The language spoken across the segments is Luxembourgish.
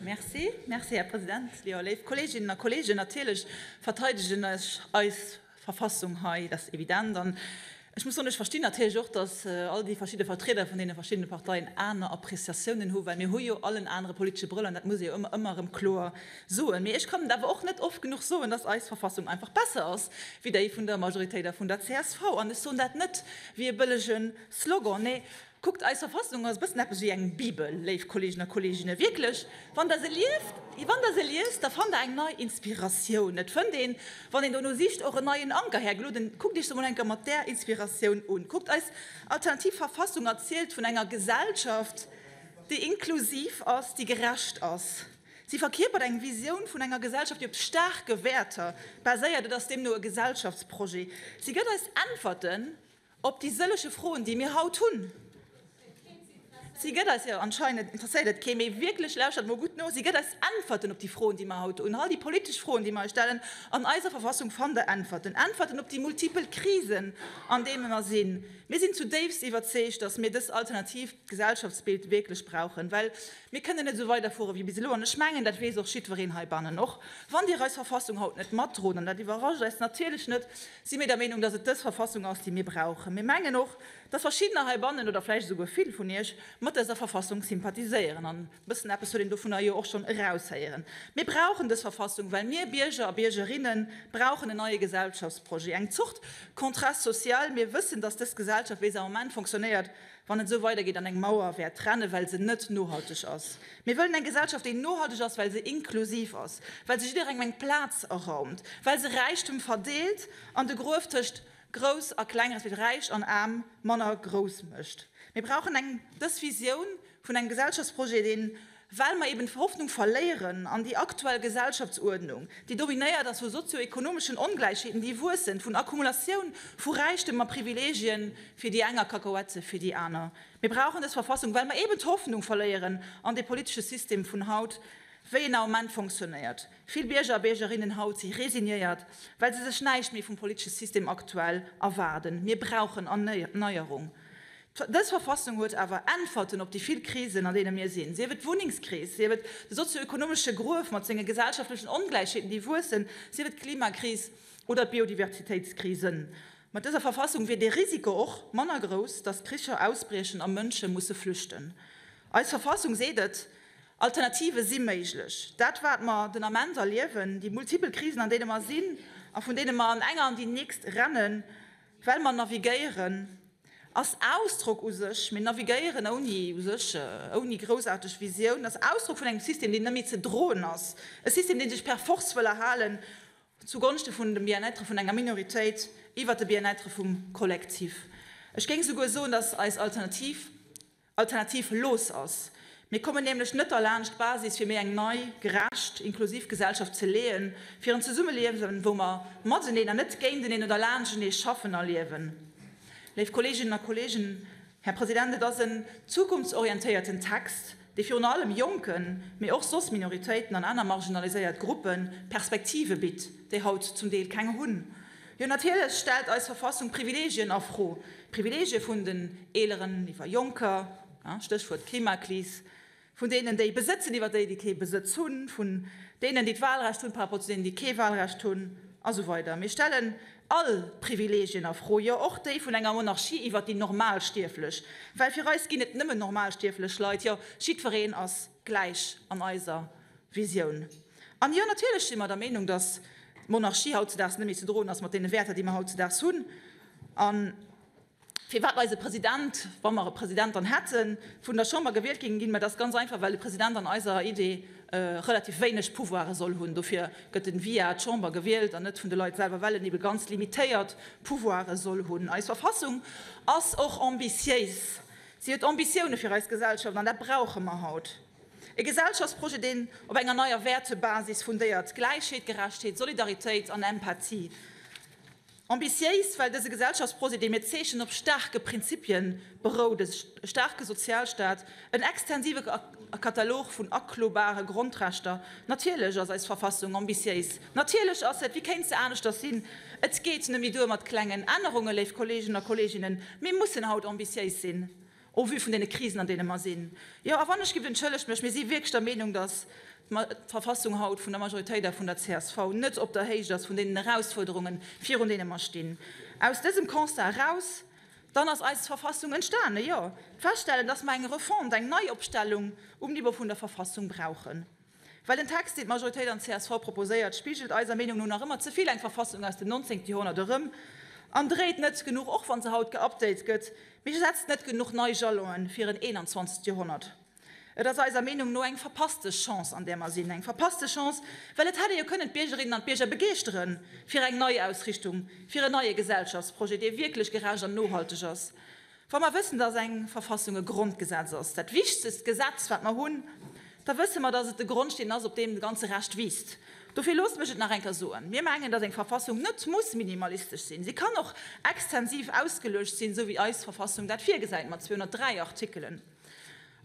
Merci, merci, Här President. Jo, léif Kolleeginnen a Kolleegen, natierlech verteidegen ech eis Verfassung hei, dat ass evident. An ech muss soen, ech verstinn natierlech och, dass all déi verschidde Vertrieder vun deene verschiddene Parteien aner Appreciatiounen hunn, well mir hu jo all en anere politesche Brëll an dat muss ee jo ëmmer, ëmmer erëm kloer soen. Mee ech kann et awer och net oft genuch soen, dass eis Verfassung einfach besser ass wéi déi vun der Majoritéit a vun der csv. An ech soen dat net wéi e bëllege Slogan, nee, Kuckt, eis Verfassung ass e bëssen eppes wéi eng Bibel, léif Kolleegen a Kolleeginne, wierklech. Wann Der se liest, wann Der se liest, da fannt Der eng nei Inspiratioun. Et fënnt een, wann een dono sicht, och en neien Anker. Här Gloden, kuckt Iech se mol eng Kéier mat där Inspiratioun un. Kuckt, eis alternativ Verfassung erzielt vun enger Gesellschaft, déi inklusiv ass, déi gerecht ass. Si verkierpert eng Visioun vun enger Gesellschaft, déi op staarke Wäerter baséiert. Et ass deemno e Gesellschaftsprojet. Si gëtt eis Äntwerten. Op déi sëlleche Froen, déi mir haut hunn, si gëtt eis, jo anscheinend interesséiert et kee méi wierklech, lauschtert mol gutt no, si gëtt eis Äntwerten op déi Froen, déi mer haut hunn, all déi politesch Froen, déi mer eis stellen. An eiser Verfassung fannt der Äntwerten, Äntwerten op déi multipel Krisen, an deene mer sinn. Mir sinn zutiefst iwwerzeegt, datt mir dës alternatiivt Gesellschaftsbild wierklech brauchen, well mir kënnen net esou weiderfuere wéi bis elo. An ech mengen, dat weess och jiddwereen heibannen, och wann Dir eis Verfassung haut net matdroen, an dat iwwerrascht eis natierlech net, si mir der Meenung, dass et dës Verfassung ass, déi mir brauchen. Mir mengen och, dass verschiddener heibannen, oder vläicht esouguer vill vun Iech, mat dëser Verfassung sympathiséieren. An e bëssen eppes huet een dovunner jo och schonn eraushéieren. Mir brauchen dës Verfassung, well mir Bierger a Biergerinne brauchen en neie Gesellschaftsprojet, eng Zort Contrat social. Mir wëssen, dass dës Gesellschaft, wéi se am Moment fonctionnéiert, Wann et esou weidergeet an eng Mauer wäert trennen, well se net nohalteg ass. Mir wëllen eng Gesellschaft, déi nohalteg ass, well se inklusiv ass, well se jidderengem eng Plaz eraumt, well se Räichtum verdeelt an de Gruef tëscht Grouss a Kleng, respektiv Räich an Aarm, manner grouss mécht. Mir brauchen eng dës Visioun vun engem Gesellschaftsprojet, deen well mer eben d'Hoffnung verléieren an déi aktuell Gesellschaftsuerdnung, déi dominéiert ass vu sozio-ekonomeschen Ongläichheeten, déi wuessen, vun Akkumulatioun vu Räichtem a Privilegien fir déi eng a Kakaoette fir déi aner. Mir brauchen dës Verfassung, well mer eben d'Hoffnung verléieren an dee politesche System vun haut, wéi en am Moment fonctionnéiert. Vill Bierger a Biergerinnen haut si resignéiert, well se sech näischt méi vum politesche System aktuell erwaarden. Mir brauchen Erneierung. Dës Verfassung huet awer Äntwerten op déi vill Krisen, an deene mir sinn, sief et d'Wunnengskris, sief et de sozio-ekonomesche Gruef mat senge gesellschaftlechen Ongläichheeten, déi wuessen, sief et d'Klimakris oder d'Biodiversitéitskrisen. Mat dëser Verfassung wier dee Risiko och manner grouss, datt Kricher ausbriechen a Mënsche musse flüchten. Eis Verfassung seet et, Alternative si méiglech. Dat, wat mer den Ament erliewen, déi multipel Krisen, an deene mer sinn a vun deene mer an enger an déi nächst rennen, Well mer navigéieren ass Ausdrock u sech, mee navigéieren ouni u sech, ouni groussaarteg Visioun, ass Ausdrock vun engem System, deen net méi ze droen ass, e System, dee sech per Force wëll erhalen zu Gonschte vun dem Bien-être vun enger Minoritéit iwwert de Bien-être vum Kollektiv. Ech géing souguer soen, dass eis Alternativ Alternativ looss ass. Mir kommen nämlech net derlaanscht, d'Basis fir méi eng nei, gerecht, inklusiv Gesellschaft ze leeën, fir en Zesummeliewen, wou mer mateneen an net géinteneen oder laanschtenee schaffen a liewen. Léif Kolleeginnen a Kolleegen, Här President, et ass en zukunftsorientéierten Text, dee virun allem Jonken, mee och soss Minoritéiten an aner marginaliséiert Gruppe Perspektive bitt, déi haut zum Deel keng hunn. Jo, natierlech stellt eis Verfassung Privilegien a Fro, d'Privilegie vun den Eeleren iwwer Jonker, Stéchwuert Klimakris, vun deenen, déi besëtzen, iwwer déi, déi kee Besëtz hunn, vun deenen, déi d'Wahlrecht hunn, par rapport zu deenen, déi kee Wahlrecht hunn a sou weider. Mir stellen all Privilegien a Fro, jo och déi vun enger Monarchie iwwer déi Normalstierflech, well fir eis ginn et nëmmen normalstierflech Leit, jo jiddwereen ass. gläich an eiser Visioun. An jo, natierlech si mer der Meenung, dass d'Monarchie hautzedaags net méi ze droen ass mat deene Wäerter, déi mer hautzedaags hunn. A firwat eise President, wa mer e President dann hätten, vun der Chamber gewielt géing ginn? Mä dat ass ganz einfach, well e President an eiser Idee relativ wéineg Pouvoire soll hunn. Dofir gëtt e via d'Chamber gewielt an net vun de Leit selwer, well en ebe ganz limitéiert Pouvoire soll hunn. Eis Verfassung ass och ambitiéis. Si huet Ambitioune fir eis Gesellschaft, an dat brauche mer haut. E Gesellschaftsprojet, deen op enger neier Wäertebasis fundéiert, Gläichheet, Gerechtheet, Solidaritéit an Empathie. Ambitiéis, well dëse Gesellschaftsprojet, dee mir zeechnen, op staarke Prinzipie berout, e staarke Sozialstaat, en extensive. A Katalog vun aklobare Grondrechter. Natierlech ass eis Verfassung ambitiéis. Natierlech ass et, wéi kéint se aneschters sinn? Et geet net méi duer mat klengen Ännerungen, léif Kolleegen a Kolleeginnen. Mir mussen haut ambitiéis sinn, au vu vun deene Krisen, an deene mer sinn. Jo, a wann ech giff, entschëllegt mech, mir si wierklech der Meenung, dass d'Verfassung haut vun der Majoritéit a vun der csv net op der Héicht ass vun deenen Erausfuerderungen, virun deene mer stinn. Aus dësem Constat eraus. Dann ass eis Verfassung entstanen, jo. D'Feststellen, dass mer eng Refonte, eng Neiopstellung um Niveau vun der Verfassung brauchen, well den Text, deen d'Majoritéit an csv proposéiert, spigelt eiser Meenung no nach ëmmer ze vill eng Verfassung aus dem neunzéngten Joerhonnert erëm an dréit net genuch, och wa se haut geupdate gëtt, mee setzt net genuch nei Jalonen fir en eenanzwanzegte Joerhonnert. Et ass eiser Meenung no eng verpasste Chance, an där mer sinn. Eng verpasste Chance, well et hätt ee jo kënnen d'Biergerinnen an d'Bierger begeeschtere fir eng Neiausrichtung, fir en neie Gesellschaftsprojet, dee wierklech gerecht an nohalteg ass, wa mer wëssen, dass eng Verfassung e Grondgesetz ass, dat wichtegst Gesetz, wat mer hunn, da wësse mer, dass et de Grondsteen ass, op deem de ganze Rescht wiisst. Dofir loosst mech et nach eng Kéier soen, Mir mengen, dass eng Verfassung net muss minimalistesch sinn. Si kann och extensiv ausgeluecht sinn, esou wéi eis Verfassung dat virgesäit, mat 203 Artikelen.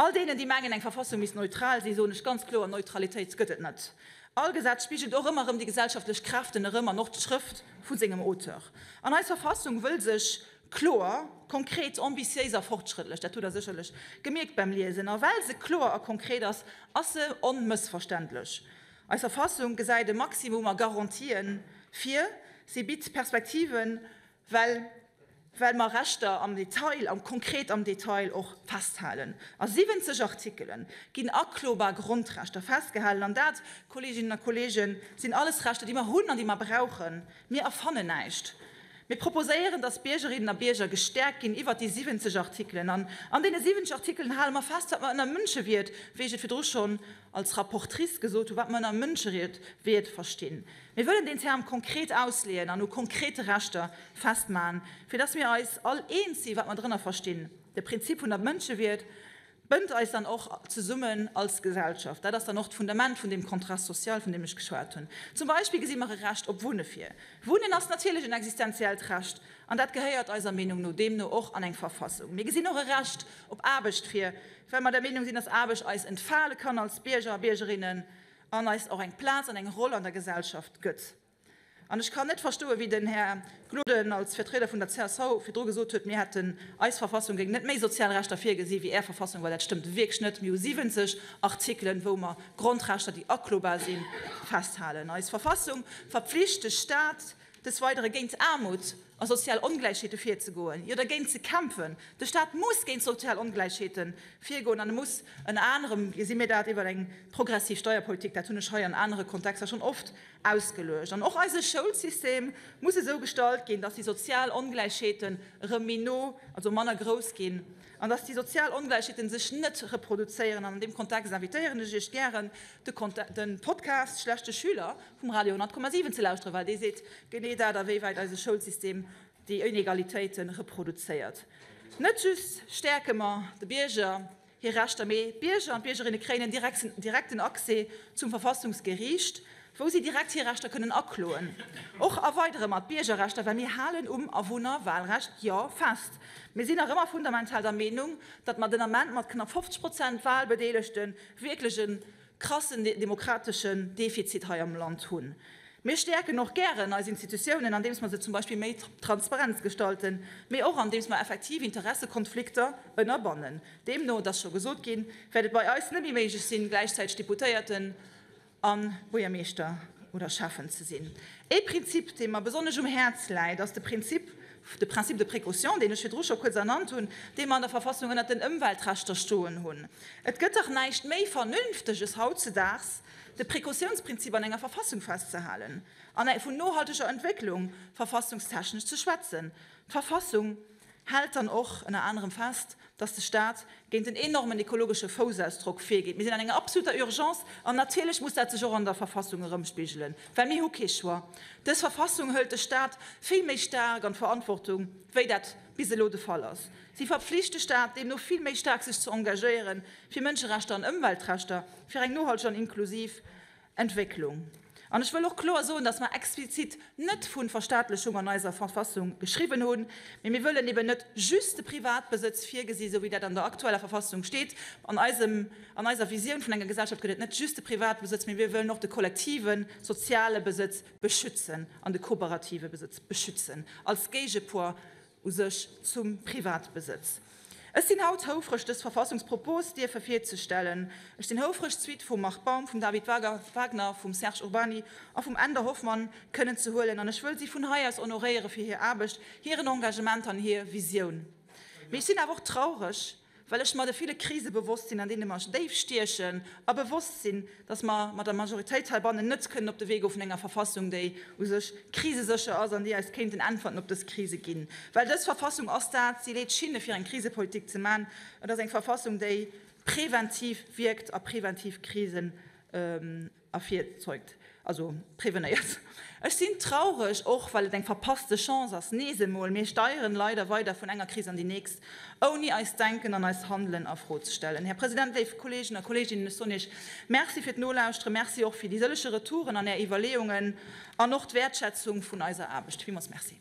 All deenen, déi mengen, eng Verfassung misst neutral sinn, soen ech ganz kloer, Neutralitéit gëtt et net. All Gesetz spigelt och ëmmer erëm déi gesellschaftlech Kräften erëm an och d'Schrëft vu sengem Auteur. An eis Verfassung wëll sech kloer, konkret, ambitiéis a fortschrëttlech, dat hutt Der sécherlech gemierkt beim Liesen, a well se kloer a konkret ass, ass se onmëssverständlech. Eis Verfassung gesäit e Maximum a Garantien vir, si bitt Perspektiven Well, well mer Rechter am Detail, am konkret am Detail och festhalen. A 70 Artikelen ginn aklobar Grondrechter festgehalen. An dat, Kolleeginnen a Kolleegen, sinn alles Rechter, déi mer hunn an déi mer brauchen. Mir erfannen näischt. Mir proposéieren, dass Biergerinnen a Bierger gestäerkt ginn iwwert déi 70 Artikelen. An an deene 70 Artikelen hale mer fest, wat mer ënner Mënschewiert, wéi ech et virdru schonn als Rapportrice gesot hu, wat mer ënner Mënscheried Ried verstinn. Mir wëllen deen Term konkret ausleeën an u konkrete Rechter festmachen, fir dass mir eis all eens si wat mer drënner verstinn. De Prinzip vun der Mënschewierd bënnt eis dann och zesummen als Gesellschaft. Dat ass dann och d'Fundament vun deem Contrat social, vun deem ech geschwat hunn. Zum Beispill gesi mer e Recht op Wunne vir. Wunnen ass natierlech en existenziellt Recht an dat gehéiert eiser Meenung no deemno och an eng Verfassung. Mir gesinn och e Recht Op Aarbecht fir, well mer der Meenung sinn, dass Aarbecht eis entfale kann als Bierger a Biergerinnen an eis och eng Plaz an eng Roll an der Gesellschaft gëtt. An ech kann net verstoen, wéi den Här Gloden als Vertrieder vun der csv virdru gesot huet, mir hätten, eis Verfassung géing net méi sozial Rechter virgesinn, wéi Är Verfassung, well dat stëmmt wierklech net. Mir hu 70 Artikelen, wou mer Grondrechter, déi aklobar sinn, festhalen. Eis Verfassung verpflicht de Stat, Des Weidere géint Aarmut a sozial Ongläichheete virzegoen, jo dergéint ze kämpfen. De Staat muss géint sozial Ongläichheete virgoen an e muss ënner anerem, gesi mir dat, iwwer eng progressiv Steierpolitik, dat hunn ech hei an anere Kontexter schonn oft ausgeluecht. An och eise Schoulsystem muss esou gestalt ginn, dass déi sozial Ongläichheeten erëm méi no, also manner grouss ginn an dass déi sozial Ongläichheete sech net reproduzéieren. An an deem Kontext invitéieren ech Iech gären, de Podcast Schlechte Schüler, vum Radio 100,7 ze lauschteren, well dee seet genee dat, awéiwäit eise Schoulsystem déi Inegalitéite reproduzéiert. Net just stäerke mer de Bierger hir Rechter, mee d'Bierger an d'Biergerinne kréien en direkten Accès zum Verfassungsgeriicht, wou si direkt hir Rechter kënnen akloen. Och erweidere mer d'Biergerrechter, well mir halen um Awunnerwahlrecht jo fest. Mir sinn nach ëmmer fundamental der Meenung, datt mer den Ament mat knapp 50 Prozent Wahlbedeelegte wierklech e. krassen demokrateschen Defizit hei am Land hunn. Mir stäerken och gären eis Institutiounen, andeems mer se zum Beispill méi transparent gestalten, mee och andeems mer effektiv Interessekonflikter ënnerbannen. Deemno, et ass scho gesot ginn, wäert et bei eis net méi méiglech sinn, gläichzäiteg Deputéierten a Buergermeeschter oder Schäffen ze sinn. Ee Prinzip, dee mer besonnesch um Häerz läit, ass de Prinzip De Principe de précaution, deen ech virdru scho kuerz ernannt hunn, dee mer an der Verfassung ënnert den Ëmweltrechter stoen hunn. Et gëtt dach näischt méi Vernünfteges hautzedaags, de Précautionsprinzip an enger Verfassung festzehalen an vun nohalteger Entwécklung verfassungstechnesch ze schwätzen. D'Verfassung hält dann och ënner anerem fest, dass de Stat géint den enormen ekologesche Foussaussdrock virgeet. Mir sinn an enger absoluter Urgence an natierlech muss dat sech och an der Verfassung erëmspigelen, well mir hu kee Choix. Dës Verfassung hëlt de Stat vill méi staark an d'Verantwortung, wéi dat bis elo de Fall ass. Si verpflicht de Stat deemno vill méi staark sech ze engagéieren fir Mënscherechter an Ëmweltrechter, fir eng nohalteg an inklusiv Entwécklung. An ech wëll och kloer soen, dass mer explizit net vu Verstaatlechung an eiser Verfassung geschriwwen hunn, mee mir wëllen eben net just de Privatbesëtz virgesinn, esou wéi dat an der aktueller Verfassung steet. An eisem, an eiser Visioun vun enger Gesellschaft gëtt et net just de Privatbesëtz, mee mir wëllen och de kollektive soziale Besëtz beschützen an de kooperative Besëtz beschützen als Géigepoids u sech zum Privatbesëtz. Ech sinn haut houfreg, dës Verfassungspropos dierfe virzestellen. Ech sinn houfreg, d'Suite vum Marc Baum, vum David Wagner, vum Serge Urbany a vum Änder Hoffmann kënnen ze huelen, an ech wëll si vun hei aus honoréiere fir hir Aarbecht, hiren Engagement an hir Visioun. Mee ech sinn awer och traureg, Well ech mer de ville Krise bewosst sinn, an deene mer déif stiechen, a bewosst sinn, datt mer mat der Majoritéit heibannen net kënnen op de Wee goe vun enger Verfassung, déi u sech krisesécher ass an déi eis kéinten Äntwerten op dës Krise ginn. Well dës Verfassung ass dat, si leet d'Schinne fir eng Krisepolitik ze maachen. Et ass eng Verfassung, déi preventiv wierkt a preventiv Krisen ervirzeugt, also prevenéiert. Ech sinn traureg, och well et eng verpasste Chance ass, nees emol, mir steieren leider weider vun enger Kris an déi nächst, ouni eist Denken an eist Handelen a Fro ze stellen. Här President, léif Kolleegen a Kolleeginnen, ech soen Iech Merci fir d'Nolauschteren, Merci och fir déi sëllege Retouren an Är Iwwerleeungen an och d'Wäertschätzung vun eiser Aarbecht. Villmools Merci.